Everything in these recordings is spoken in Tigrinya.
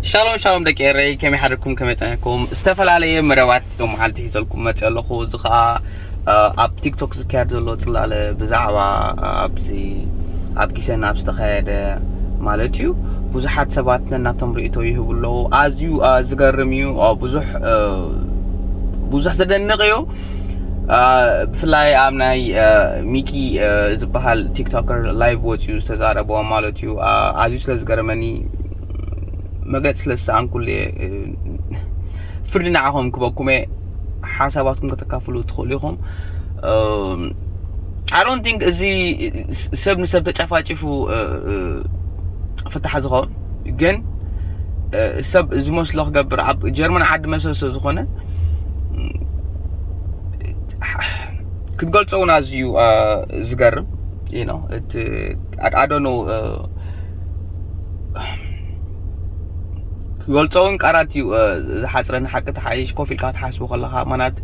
ሻሎም ሻሎም ደቂ ኤረይ ከመይ ሓደርኩም ከመይ ጸኒሕኩም ዝተፈላለየ መደባት ሎ መዓልቲ ሒዘልኩም መጽ ኣለኹ እዚ ከዓ ኣብ ቲክቶክ ዝካየድ ዘሎ ጽላለ ብዛዕባ ኣብዚ ኣብ ጊሰና ኣብ ዝተኻየደ ማለት እዩ ብዙሓት ሰባት ነናቶም ርእቶ ይህቡ ኣለዉ ኣዝዩ ዝገርም እዩ ብዙሕ ብዙሕ ዘደንቕ እዩ ብፍላይ ኣብ ናይ ሚኪ ዝበሃል ቲክቶከር ላይቭ ወፅኡ ዝተዛረቦ ማለት እዩ ኣዝዩ ስለ ዝገርመኒ መግለጺ ስለ ዝሰኣንኩሉ እየ ፍርዲ ንዓኹም ክበኩም እየ ሓሳባትኩም ከተካፍሉ ትኽእሉ ኢኹም ኣሮን ቲንክ እዚ ሰብ ንሰብ ተጨፋጭፉ ፍታሕ ዝኸውን ግን ሰብ ዝመስሎ ክገብር ኣብ ጀርመን ዓዲ መሰል ስለ ዝኾነ ክትገልፆ እውን ኣዝዩ ዝገርም እዩ ነው እቲ ኣዶኖ ክገልጾ እውን ቃላት እዩ ዝሓፅረኒ ሓቂ ተሓይሽ ኮፍ ኢልካ ትሓስቡ ከለኻ ማናት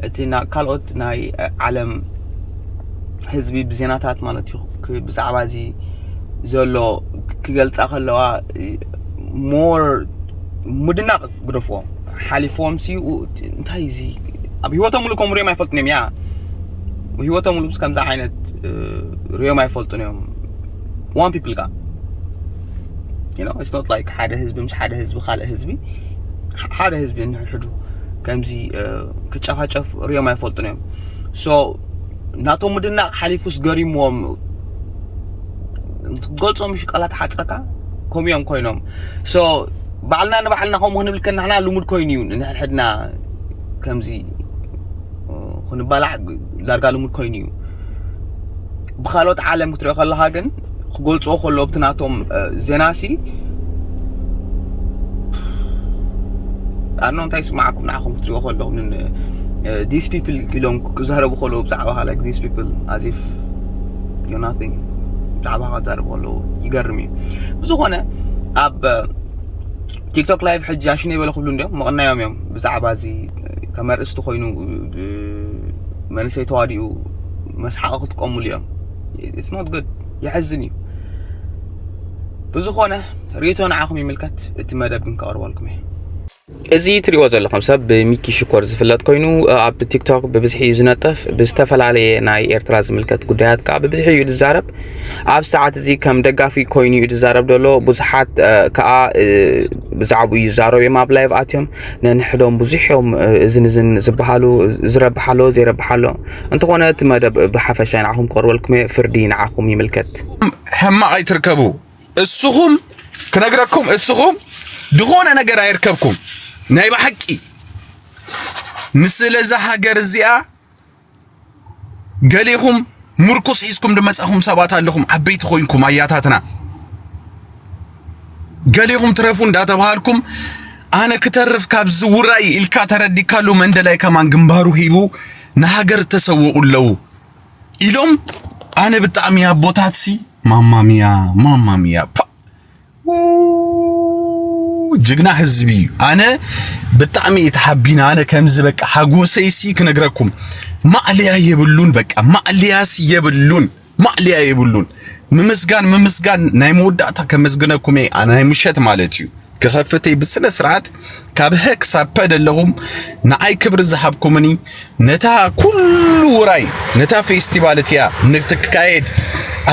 እቲ ካልኦት ናይ ዓለም ህዝቢ ብዜናታት ማለት እዩ ብዛዕባ እዚ ዘሎ ክገልፃ ከለዋ ሞር ምድናቕ ግደፍዎ ሓሊፎም ሲ እንታይ እዚ ኣብ ሂወቶም ሙሉ ከም ሪኦም ኣይፈልጡን እዮም ያ ሂወቶም ሙሉ ከምዚ ዓይነት ሪኦም ኣይፈልጡን እዮም ዋን ፒፕል ጋር ዩኖ ኢትስ ኖት ላይክ ሓደ ህዝቢ ምስ ሓደ ህዝቢ ካልእ ህዝቢ ሓደ ህዝቢ እንሕድሕዱ ከምዚ ክጨፋጨፍ ሪኦም ኣይፈልጡን እዮም ሶ ናቶም ምድናቕ ሓሊፉስ ገሪምዎም ትገልጾም ምሽ ቃላት ሓፅረካ ከምኡ እዮም ኮይኖም ሶ ባዕልና ንባዕልና ከምኡ ክንብል ከናሕና ልሙድ ኮይኑ እዩ ንሕድሕድና ከምዚ ክንባላዕ ዳርጋ ልሙድ ኮይኑ እዩ ብካልኦት ዓለም ክትሪኦ ከለካ ግን ክገልፅዎ ከሎ ኣብቲ ናቶም ዜና ሲ ኣኖ እንታይ ስማዓኩም ንዓኹም ክትሪኦ ከለኹም ዲስ ፒፕል ኢሎም ክዛረቡ ከለዉ ብዛዕባ ላይክ ዲስ ፒፕል ኣዚፍ ዩ ናቲንግ ብዛዕባ ክዛረቡ ከለዉ ይገርም እዩ ብዝኾነ ኣብ ቲክቶክ ላይቭ ሕጂ ኣሽነይ በለ ክብሉ እንዲዮም ምቕናዮም እዮም ብዛዕባ እዚ ከም ኣርእስቲ ኮይኑ መንእሰይ ተዋዲኡ መስሓቂ ክጥቀሙሉ እዮም ኢትስ ኖት ጉድ የሕዝን እዩ ብዝኾነ ሪቶ ንዓኹም ይምልከት እቲ መደብ ግን ከቕርበልኩም እየ እዚ ትሪእዎ ዘለኹም ሰብ ብሚኪ ሽኮር ዝፍለጥ ኮይኑ ኣብ ቲክቶክ ብብዝሒ እዩ ዝነጥፍ ብዝተፈላለየ ናይ ኤርትራ ዝምልከት ጉዳያት ከዓ ብብዝሒ እዩ ዝዛረብ ኣብ ሰዓት እዚ ከም ደጋፊ ኮይኑ እዩ ዝዛረብ ዘሎ ብዙሓት ከዓ ብዛዕባኡ ይዛረቡ እዮም ኣብ ላይቭ ኣትዮም ነንሕዶም ብዙሕ እዮም እዝን እዝን ዝበሃሉ ዝረብሕ ኣሎ ዘይረብሕ ኣሎ እንተኾነ እቲ መደብ ብሓፈሻ ንዓኹም ክቐርበልኩም እየ ፍርዲ ንዓኹም ይምልከት ሕማቕ ኣይትርከቡ እስኹም ክነግረኩም እስኹም ዝኾነ ነገር ኣይርከብኩም ናይ ብሓቂ ንስለዛ ሃገር እዚኣ ገሊኹም ምርኩስ ሒዝኩም ድመጻኹም ሰባት ኣለኹም ዓበይቲ ኮይንኩም ኣያታትና ገሊኹም ትረፉ እንዳተባሃልኩም ኣነ ክተርፍ ካብ ዝውራይ ኢልካ ተረዲካሉ መንደላይ ከማን ግንባሩ ሂቡ ንሃገር ተሰውኡ ኣለዉ ኢሎም ኣነ ብጣዕሚ ኣቦታትሲ ማማሚያ ማማሚያ ጅግና ህዝቢ እዩ ኣነ ብጣዕሚ እዩ ተሓቢና ኣነ ከምዚ በቃ ሓጎሰይሲ ክነግረኩም ማዕልያ የብሉን በቃ ማዕልያስ የብሉን ማዕልያ የብሉን ምምስጋን ምምስጋን ናይ መወዳእታ ከመስግነኩም ናይ ምሸት ማለት እዩ ክኸፍተይ ብስነ ስርዓት ካብ ሀ ክሳብ ፐ ደለኹም ንዓይ ክብሪ ዝሃብኩምኒ ነታ ኩሉ ውራይ ነታ ፌስቲቫል እቲኣ ንትካየድ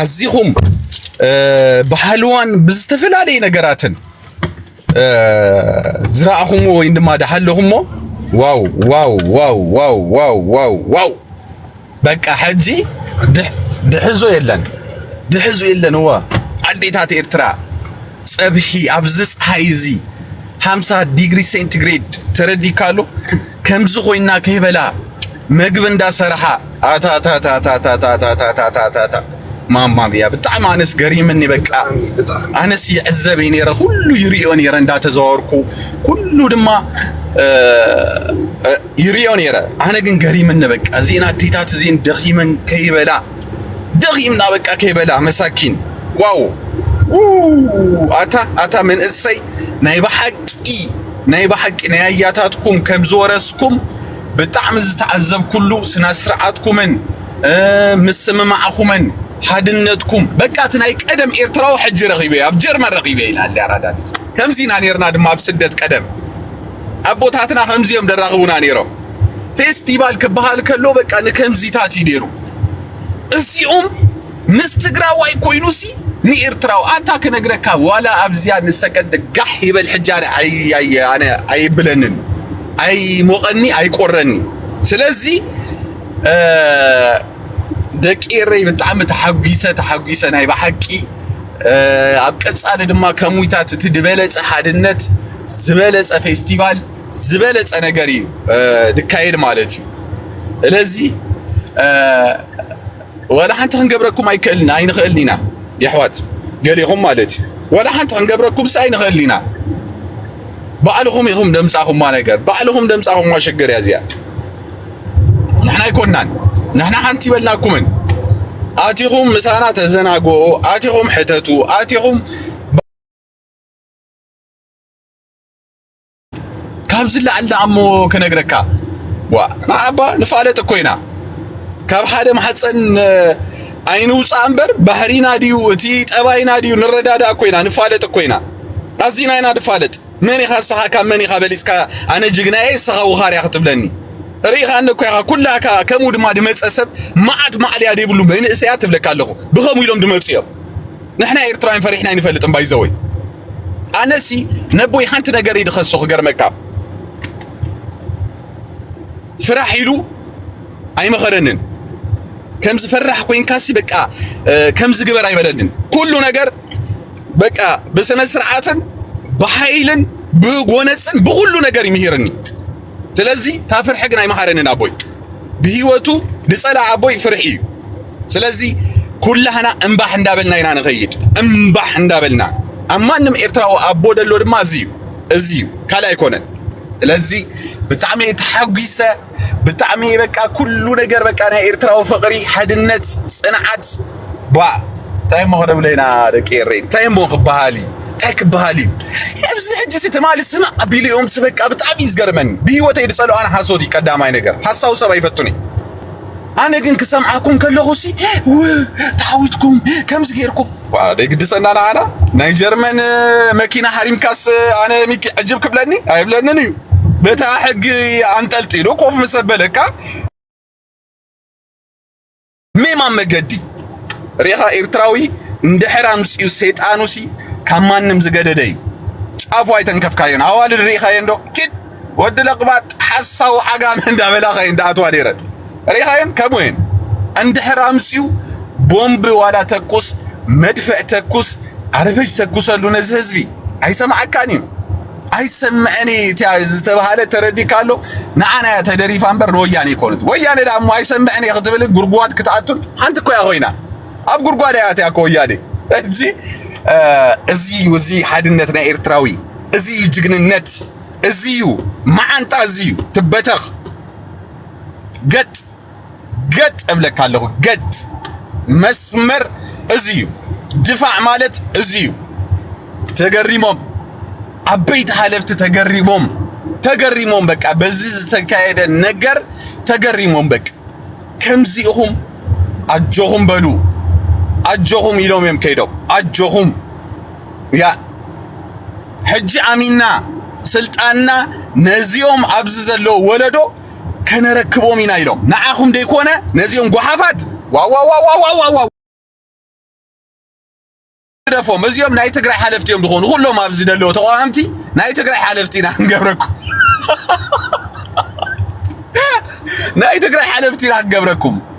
ኣዚኹም ብሃልዋን ብዝተፈላለየ ነገራትን ዝረኣኹምዎ ወይም ድማ ድሃለኹምዎ ዋው ዋው ዋው ዋው ዋው ዋው ዋው በቃ ሕጂ ድሕዞ የለን ድሕዙ የለን እወ ኣዴታት ኤርትራ ጸብሒ ኣብዚ ፀሓይ እዚ ሃምሳ ዲግሪ ሴንቲግሬድ ተረዲካሉ ከምዚ ኮይና ከይበላ መግቢ እንዳሰራሓ ኣታታታታታታታታታታ ማማብያ ብጣዕሚ ኣነስ ገሪምኒ በቃ ኣነስ ይዕዘብ ነረ ኩሉ ይሪኦ ነረ እንዳተዘዋወርኩ ኩሉ ድማ ይሪኦ ነይረ ኣነ ግን ገሪምኒ በቃ እዚኤን ኣዴታት እዚኤን ደኺመን ከይበላ ደኺምና በቃ ከይበላ መሳኪን ዋው ኣታ ኣታ መንእሰይ ናይ ብሓቂ ናይ ብሓቂ ናይ ኣያታትኩም ከም ዝወረስኩም ብጣዕሚ ዝተዓዘብኩሉ ስነ ስርዓትኩምን ምስምማዕኹምን ሓድነትኩም በቃ እቲ ናይ ቀደም ኤርትራዊ ሕጂ ረኺበ ኣብ ጀርመን ረኺበ ኢላ ኣራዳ ከምዚ ኢና ነርና ድማ ኣብ ስደት ቀደም ኣቦታትና ከምዚ እዮም ደራኽቡና ነይሮም። ፌስቲቫል ክበሃል ከሎ በቃ ንከምዚታት እዩ ነይሩ። እዚኦም ምስ ትግራዋይ ኮይኑሲ ንኤርትራዊ ኣታ ክነግረካ ዋላ ኣብዚያ ንሰከንድ ጋሕ ይበል ሕጂ ኣነ ኣነ ኣይብለንን ኣይሞቐኒ ኣይቆረኒ ስለዚ ደቂ ኤረይ ብጣዕሚ ተሓጒሰ ተሓጒሰ ናይ ብሓቂ ኣብ ቀጻሊ ድማ ከም ዊታት እቲ ዝበለጸ ሓድነት ዝበለጸ ፌስቲቫል ዝበለጸ ነገር እዩ ድካየድ ማለት እዩ ስለዚ ወላ ሓንቲ ክንገብረኩም ኣይክእልን ኣይንኽእልን ኢና የሕዋት ገሊኹም ማለት እዩ ወላ ሓንቲ ክንገብረኩም ስ ኣይንኽእል ኢና ባዕልኹም ኢኹም ደምጻኹማ ነገር ባዕልኹም ደምጻኹማ ሽግር እያ እዚኣ ንሕና ኣይኮናን ንሕና ሓንቲ ይበልናኩምን ኣቲኹም ምሳና ተዘናግኦ ኣቲኹም ሕተቱ ኣቲኹም ካብ ዝለዓል ንኣሞ ክነግረካ ዋ ንዓባ ንፋለጥ እኮ ኢና ካብ ሓደ ማሕፀን ኣይንውፃእ እምበር ባህሪና ድዩ እቲ ጠባይና ድዩ ንረዳዳእ እኮ ኢና ንፋለጥ እኮ ኢና ኣዚና ኢና ንፋለጥ መን ኢኻ ንስኻ ካብ መን ኢኻ በሊጽካ ኣነ ጅግና እየ ንስኻ ውኻር እያ ክትብለኒ ርኢኻኒ እኮ ኢኻ ኩላካ ከምኡ ድማ ድመጸ ሰብ መዓት ማዕልያ ዘይብሉ መንእሰያ ትብለካ ኣለኹ ብኸምኡ ኢሎም ድመጹ እዮም ንሕና ኤርትራውያን ፈሪሕና ኣይንፈልጥን ባይዘወይ ኣነሲ ነቦይ ሓንቲ ነገር ይድኸሶ ክገርመካ ፍራሕ ኢሉ ኣይመኸረንን ከም ዝፈራሕ ኮይንካሲ በቃ ከም ዝግበር ኣይበለንን ኩሉ ነገር በቃ ብስነ ስርዓትን ብሓይልን ብጎነፅን ብኩሉ ነገር ይምሂርኒ ስለዚ እታ ፍርሒ ግን ኣይመሃረንን ኣቦይ ብሂወቱ ድፀላ ኣቦይ ፍርሒ እዩ ስለዚ ኩላህና እምባሕ እንዳበልና ኢና ንኸይድ እምባሕ እንዳበልና ኣብ ማንም ኤርትራዊ ኣቦ ደሎ ድማ እዚ እዩ እዚ እዩ ካልእ ኣይኮነን ስለዚ ብጣዕሚ ተሓጒሰ ብጣዕሚ እየ በቃ ኩሉ ነገር በቃ ናይ ኤርትራዊ ፍቕሪ ሓድነት ጽንዓት ባ እንታይ እሞ ክነብለይና ደቂ ኤረይ እንታይ እሞ ክበሃል እዩ እንታይ ክበሃል እዩ ኣብዚ ሕጂሲ ትማሊ ስም ኣቢሉ እዮም በቃ ብጣዕሚ እዩ ዝገርመኒ ብሂወተይ ዝጸልኦ ኣነ ሓሶት እዩ ቀዳማይ ነገር ሓሳዊ ሰብ ኣይፈቱን እዩ ኣነ ግን ክሰምዓኩም ከለኹሲ ተዓዊትኩም ከምዚ ጌርኩም ደይግድሰና ንዓና ናይ ጀርመን መኪና ሃሪምካስ ኣነ ሚኪ ዕጅብ ክብለኒ ኣይብለንን እዩ በታ ሕጊ ኣንጠልጢሉ ኮፍ ምስ ኣበለካ ሜማን መገዲ ሬኻ ኤርትራዊ እንድሕር ኣምፅኡ ሰይጣኑሲ ካብ ማንም ዝገደደ እዩ ጫፉ ኣይተንከፍካዮን ኣዋልድ ርኢኻየን ዶ ኪድ ወዲ ለቅባጥ ሓሳዊ ዓጋመ እንዳበላ ከይን ዳኣትዋ ነይረን ሪኻየን ከምኡየን እንድሕር ኣምፅኡ ቦምብ ዋላ ተኩስ መድፍዕ ተኩስ ኣርበጅ ተኩሰሉ ነዚ ህዝቢ ኣይሰማዓካን እዩ ኣይሰምዐን እቲያ ዝተባሃለ ተረዲካ ኣሎ ንዓና እያ ተደሪፋ እምበር ንወያኔ ይኮኑት ወያኔ ዳ እሞ ኣይሰምዐን እየ ክትብል ጉድጓድ ክትኣቱን ሓንቲ እኮ እያ ኮይና ኣብ ጉድጓድ እያ እቲያ ከወያኔ እዚ እዚ እዚ ሓድነት ናይ ኤርትራዊ እዚ ጅግንነት እዚዩ መዓንጣ እዚዩ ትበተኽ ገጥ ገጥ እብለካ ኣለኹ ገጥ መስመር እዚዩ ድፋዕ ማለት እዚዩ ተገሪሞም ዓበይቲ ሓለፍቲ ተገሪሞም ተገሪሞም በቃ በዚ ዝተካየደ ነገር ተገሪሞም በቃ ከምዚ ኢኹም ኣጆኹም በሉ ኣጆኹም ኢሎም እዮም ከይዶም ኣጆኹም ያ ሕጂ ኣሚና ስልጣንና ነዚኦም ኣብዚ ዘለዎ ወለዶ ከነረክቦም ኢና ኢሎም ንዓኹም ደይኮነ ነዚኦም ጓሓፋት ዋዋዋዋዋዋዋ ደፎም እዚኦም ናይ ትግራይ ሓለፍቲ እዮም ዝኾኑ ኩሎም ኣብዚ ደለዎ ተቃዋምቲ ናይ ትግራይ ሓለፍቲ ኢና ክንገብረኩም ናይ ትግራይ ሓለፍቲ ኢና ክንገብረኩም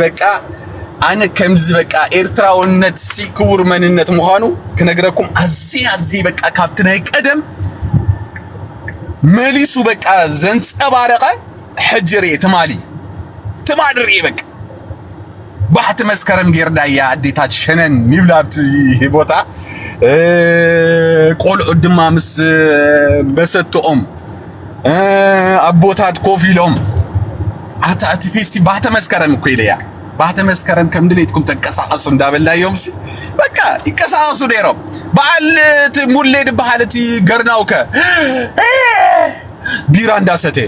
በቃ ኣነ ከምዚ በቃ ኤርትራውነት ሲ ክቡር መንነት ምዃኑ ክነግረኩም ኣዝየ ኣዝየ በቃ ካብቲ ናይ ቀደም መሊሱ በቃ ዘንጸባረቐ ሕጂ ርኤ ትማሊ ትማሊ ርኤ በቃ ባሕቲ መስከረም ጌርዳያ ኣዴታት ሸነን ይብላ ኣብቲ ቦታ ቆልዑት ድማ ምስ መሰትኦም ኣቦታት ኮፍ ኢሎም ኣታ እቲ ፌስቲ ባህተ መስከረም እኮ ኢለያ ባህተ መስከረም ከም ድሌትኩም ተንቀሳቐሱ እንዳበላዮምሲ በቃ ይንቀሳቐሱ ነይሮም። በዓል እቲ ሙሌ ድበሃል እቲ ገርናውከ ቢራ እንዳሰተ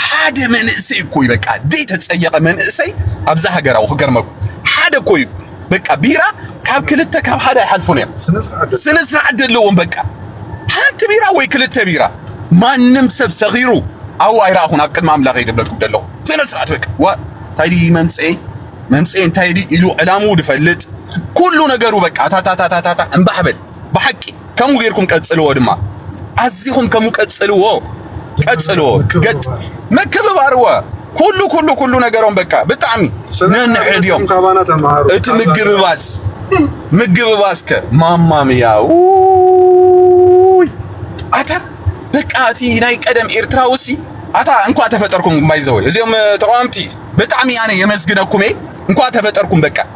ሓደ መንእሰይ እኮ እዩ በቃ ደይ ተጸየቐ መንእሰይ ኣብዛ ሃገራዊ ክገርመኩ ሓደ እኮ እዩ በቃ ቢራ ካብ ክልተ ካብ ሓደ ኣይሓልፉን እዮም። ስነ ስርዓት ዘለዎም በቃ ሓንቲ ቢራ ወይ ክልተ ቢራ ማንም ሰብ ሰኺሩ ኣው ኣይረኣኹን ኣብ ቅድሚ ኣምላኽ ይደበልኩም ደለኹ ስነ ስርዓት በቃ ዋ ታይዲ መምፅኤ መምፅኤ እንታይ ኢሉ ዕላምኡ ዝፈልጥ ኩሉ ነገሩ በቃ ታታታታታ እምባሕ በል ብሓቂ ከምኡ ጌርኩም ቀጽልዎ ድማ ኣዚኹም ከምኡ ቀጽልዎ ቀጽልዎ ገጥ ምክብባርዎ ኩሉ ኩሉ ኩሉ ነገሮም በቃ ብጣዕሚ ነንሕድዮም እቲ ምግብባዝ ምግብባዝ ከ ማማምያ ኣታ በቃ እቲ ናይ ቀደም ኤርትራዊ ሲ ኣታ እንኳ ተፈጠርኩም ማይዘወይ እዚኦም ተቃዋምቲ ብጣዕሚ ኣነ የመስግነኩም እየ እንኳ ተፈጠርኩም በቃ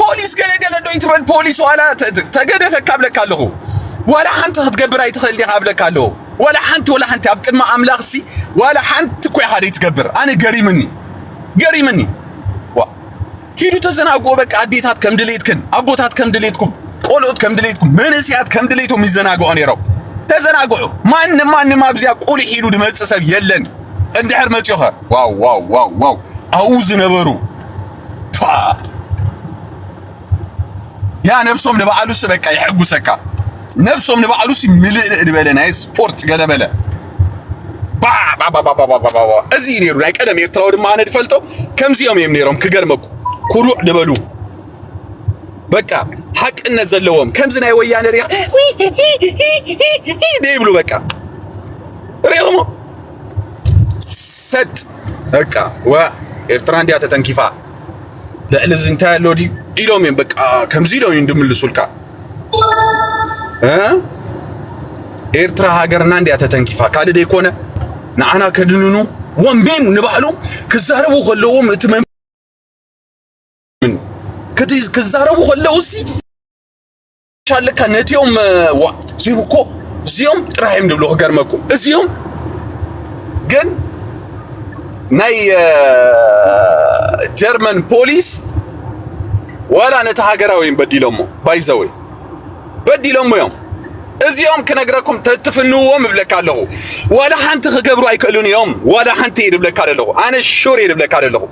ፖሊስ ገለ ገለ ዶ ይትበል ፖሊስ ዋላ ተገደፈ ካብለካ ኣለኹ ዋላ ሓንቲ ክትገብር ኣይትኽእል ዲኻ ኣብለካ ኣለኹ ዋላ ሓንቲ ዋላ ሓንቲ ኣብ ቅድሚ ኣምላኽ ሲ ዋላ ሓንቲ እኮ ኢኻ ዘይትገብር ኣነ ገሪምኒ ገሪምኒ ዋ ኪዱ ተዘናግዎ በቃ ኣዴታት ከም ድሌትክን ኣቦታት ከም ድሌትኩም ቆልዑት ከም ድሌትኩም መንእስያት ከም ድሌቶም ይዘናግዑ ነይሮም ተዘናግዑ ማንም ማንም ኣብዚያ ቁልሕ ኢሉ ድመፅእ ሰብ የለን እንድሕር መፅዮ ኸ ዋው ዋው ዋው ዋው ኣብኡ ዝነበሩ ያ ነብሶም ንባዕሉስ በቃ ይሕጉሰካ ነብሶም ንባዕሉስ ምልእልእ ዝበለ ናይ ስፖርት ገለበለ እዚ እዩ ነይሩ ናይ ቀደም ኤርትራዊ ድማ ኣነ ድፈልጦ ከምዚኦም እዮም ነይሮም ክገርመኩ ኩሩዕ ድበሉ በቃ ሓቅነት ዘለዎም ከምዚ ናይ ወያነ ሪያ ደይብሉ በቃ ሪኦሞ ሰጥ በቃ ወ ኤርትራ እንዲያ ተተንኪፋ ልዕሊ እዚ እንታይ ኣሎ ድዩ ኢሎም እዮም በቃ ከምዚ ኢሎም እዮም ድምልሱልካ ኤርትራ ሃገርና እንዲያ ተተንኪፋ ካልእ ደይኮነ ንዓና ከድንኑ ወንቢን ንባዕሉ ክዛረቡ ከለዎም እቲ ክዛረቡ ከለውሲ ሻልካ ነቲኦም ዋ እዚኦም እኮ እዚኦም ጥራሕ እዮም ድብሉ ክገርመኩም እዚኦም ግን ናይ ጀርመን ፖሊስ ዋላ ነቲ ሃገራዊ እዮም በዲሎሞ ባይዘወይ በዲሎሞ እዮም እዚኦም ክነግረኩም ተትፍንዎም እብለካ ኣለኹ ዋላ ሓንቲ ክገብሩ ኣይክእሉን እዮም ዋላ ሓንቲ እየ ድብለካ ዘለኹ ኣነ ሹር እየ ድብለካ ዘለኹ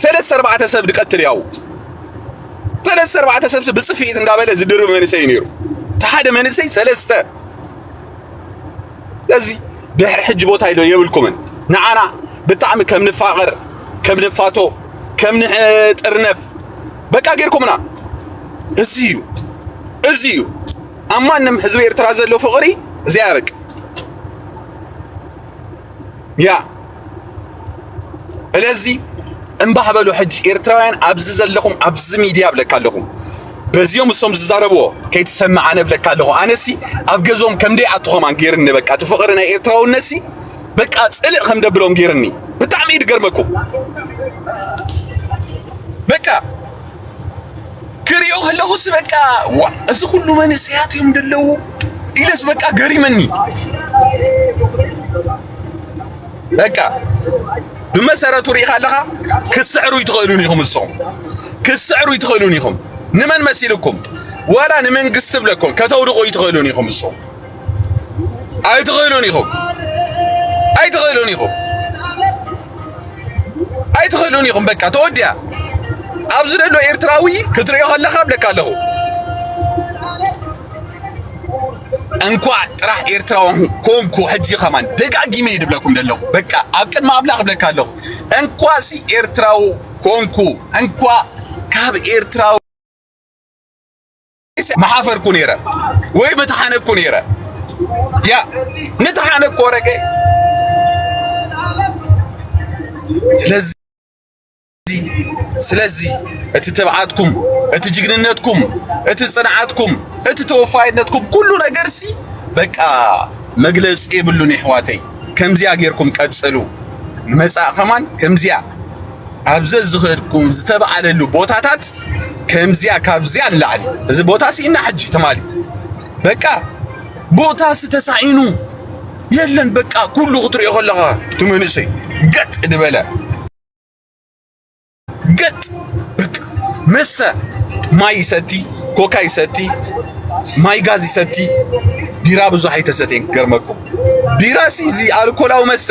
ሰለስተ ኣርባዕተ ሰብ ድቀትል ያው ሰለስተ ኣርባዕተ ሰብ ብፅፍኢት እንዳበለ ዝድርብ መንእሰይ ነይሩ እቲ ሓደ መንእሰይ ሰለስተ ስለዚ ድሕሪ ሕጂ ቦታ ኢዶ የብልኩምን ንዓና ብጣዕሚ ከም ንፋቐር ከም ንፋቶ ከም ንጥርነፍ በቃ ጌርኩምና እዚ እዩ እዚ እዩ ኣብ ማንም ህዝቢ ኤርትራ ዘሎ ፍቕሪ እዚኣ በቃ ያ እለዚ እምባህ በሉ ሕጂ ኤርትራውያን ኣብዚ ዘለኹም ኣብዚ ሚድያ ብለካ ኣለኹ በዚኦም እሶም ዝዛረብዎ ከይትሰምዕ ኣነ ብለካ ኣለኹ ኣነሲ ኣብ ገዞም ከምደይ ኣቱ ኸማን ገይርኒ በቃ እቲ ፍቕሪ ናይ ኤርትራውነሲ በቃ ፅልእ ከም ደብሎም ገይርኒ ብጣዕሚ እዩ ድገርመኩም በቃ ክሪኦ ከለኹስ በቃ እዚ ኩሉ መንእሰያት እዮም ደለዉ ኢለስ በቃ ገሪመኒ በቃ ብመሰረቱ ሪኢኻ ኣለኻ ክስዕሩ ይትኽእሉን ኢኹም ንስኹም ክስዕሩ ይትኽእሉን ኢኹም ንመን መሲልኩም ዋላ ንመንግስቲ ብለኩም ከተውድቑ ይትኽእሉን ኢኹም ንስኹም ኣይትኽእሉን ኢኹም ኣይትኽእሉን ኢኹም ኣይትኽእሉን ኢኹም በቃ ተወዲያ ኣብዚ ዘሎ ኤርትራዊ ክትሪኦ ከለኻ ብለካ ኣለኹ እንኳዕ ጥራሕ ኤርትራዊ ኮንኩ ሕጂ ከማን ደጋጊመ እየ ድብለኩም ዘለኹ በቃ ኣብ ቅድሚ ኣምላኽ ብለካ ኣለኹ እንኳሲ ኤርትራዊ ኮንኩ እንኳ ካብ ኤርትራዊ ምሓፈርኩ ነይረ ወይ ምተሓነኩ ነይረ ያ ምተሓነኩ ወረገ ስለዚ ስለዚ እቲ ትብዓትኩም እቲ ጅግንነትኩም እቲ ጽንዓትኩም እቲ ተወፋይነትኩም ኩሉ ነገርሲ በቃ መግለጺ የብሉን ይሕዋተይ ከምዚያ ጌርኩም ቀጽሉ ንመጻእ ከማን ከምዚያ ኣብ ዘዝኸድኩ ዝተባዕለሉ ቦታታት ከምዚያ ካብዚያ ንላዕሊ እዚ ቦታ ስኢና ሕጂ ትማሊ በቃ ቦታ ዝተሳኢኑ የለን በቃ ኩሉ ክትሪኦ ከለኻ እቲ መንእሰይ ገጥ ዝበለ ገጥ በቃ መሰ ማይ ይሰቲ ኮካ ይሰቲ ማይ ጋዝ ይሰቲ ቢራ ብዙሕ ኣይተሰተየን ክገርመኩም ቢራ ሲ እዚ ኣልኮላዊ መስተ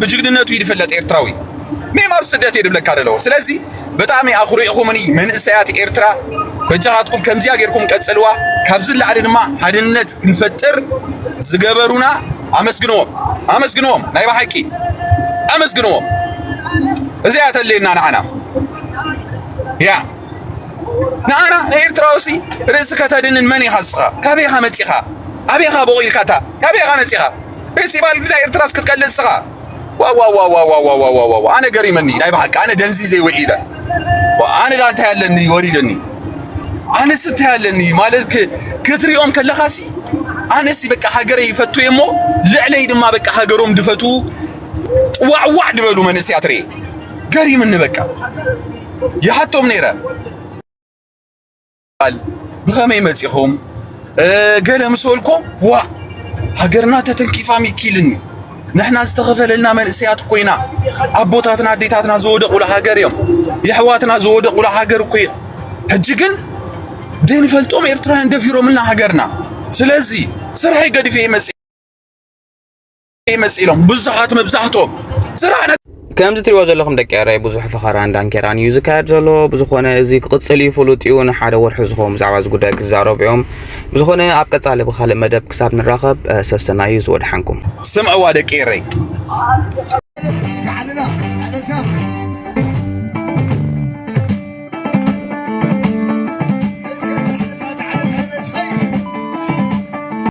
ብጅግንነቱ እዩ ዝፍለጥ ኤርትራዊ ሜም ኣብ ስደት እዩ ድብለካ ደለዎ ስለዚ ብጣዕሚ ኣኹሪዕኹምኒ መንእሰያት ኤርትራ በጃኻትኩም ከምዚያ ጌርኩም ቀጽልዋ ካብዚ ላዕሊ ድማ ሓድነት ክንፈጥር ዝገበሩና ኣመስግንዎም ኣመስግንዎም ናይ ብሓቂ ኣመስግንዎም እዚኣ ተለየና ንዓና ያ ንኣና ንኤርትራውሲ ርእሲ ከተድንን መን ኢኻ ንስኻ ካበይኻ መጺኻ ኣበይኻ ቦቒልካታ ካበይኻ መጺኻ ፌስቲቫል ብዳ ኤርትራስ ክትቀልድ እስኻ ዋዋዋዋዋዋዋዋዋ ኣነ ገሪመኒ ናይ ብሓቂ ኣነ ደንዚዘ ውዒለ ኣነ ዳ እንታይ ኣለኒ ወሪደኒ ኣነስ እንታይ ኣለኒ ማለት ክትሪኦም ከለኻሲ ኣነሲ በቃ ሃገረይ ይፈቱ እሞ ልዕለይ ድማ በቃ ሃገሮም ድፈቱ ጥዋዕዋዕ ድበሉ መንእስያት ርኤ ገሪምኒ በቃ ይሓቶም ነይረ ቃል ብኸመይ መጺኹም ገለ ምስ በልኩም ዋ ሃገርና ተተንኪፋ ሚኪልኒ ንሕና ዝተኸፈለልና መንእሰያት ኮይና ኣቦታትና ኣዴታትና ዝወደቑሉ ሃገር እዮም የሕዋትና ዝወደቑሉ ሃገር እኮ እዮም ሕጂ ግን ደይንፈልጦም ኤርትራውያን ደፊሮምልና ሃገርና ስለዚ ስርሐይ ገዲፈ ይመጽእ ይመጽእ ኢሎም ብዙሓት መብዛሕትኦም ስራሕ ከምዚ ትሪእዎ ዘለኹም ደቂ ኤረይ ብዙሕ ፈኸራን ዳንኬራን እዩ ዝካየድ ዘሎ ብዝኾነ እዚ ክቕፅል እዩ ፍሉጥ እዩ ንሓደ ወርሒ ዝኸውን ብዛዕባ እዚ ጉዳይ ክዛረቡ እዮም ብዝኾነ ኣብ ቀፃሊ ብካልእ መደብ ክሳብ ንራኸብ ሰሰና እዩ ዝወድሓንኩም ስምዕዋ ደቂ ኤረይ